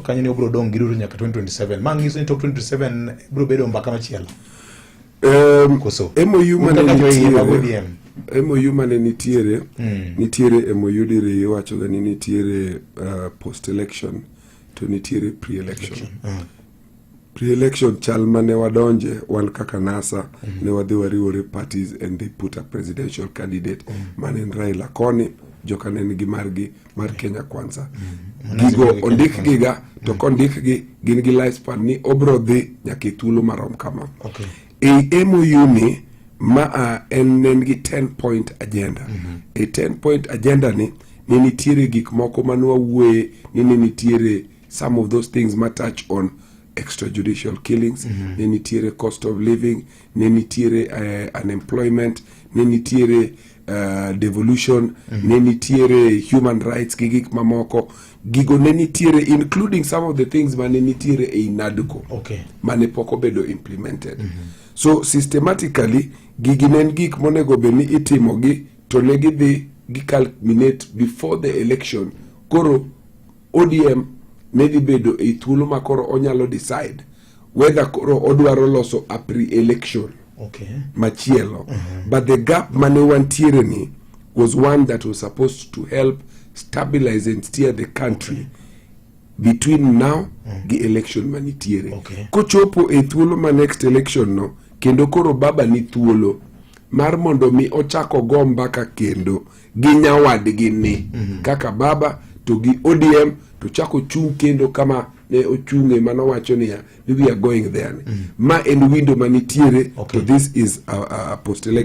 kanyo ni obro dong' gi Ruto nyaka 2027. Ma nyiso ni tok 2027 bro bedo mbaka machielo. Um, Koso. MOU mane Kaka jo iye mag nitiere ODM. MOU mane nitiere Mm. nitiere MOU diri iwacho ga ni nitiere uh, post election to nitiere pre election. pre-election chal mane wadonje wan kaka NASA mm -hmm. ne wadhi wariwore parties and they put a presidential candidate mm -hmm. mane en Raila koni joka ne nigi margi mar mhm. Kenya Kwanza mm -hmm. gigo ondik giga mhm. to kondik gi gin gi lifespan ni obro dhi nyaka thuolo marom kama okay. e MOU ni ma a en ne nigi 10 point agenda mm -hmm. e 10 point agenda ni ne nitiere gik moko manwawuoye ni ne nitiere Some of those things ma touch on extrajudicial killings mm -hmm. ne nitiere cost of living ne nitiere uh, unemployment ne nitiere uh, devolution mm -hmm. ne nitiere human rights gi gik mamoko gigo ne nitiere including some of the things mane nitiere ei NADCO okay. mane pok obedo implemented mm -hmm. so systematically gigi ne en gik monego bed ni itimogi to ne gidhi giculminate before the election koro ODM ne dhi bedo e thuolo ma koro onyalo decide whether koro odwaro loso a pre-election okay. machielo uh mm-hmm. -huh. but the gap mane wantiere ni was one that was supposed to help stabilize and steer the country okay between now mm. gi election manitiere okay. kochopo e thuolo ma next election no kendo koro baba ni thuolo mar mondo mi ochako go mbaka kendo gi nyawadgi ni mhm. kaka baba to gi ODM to chako chung kendo kama ne ochunge mano wacho niya we are going there ni mhm. ma en window manitiere okay. to this is a, a post election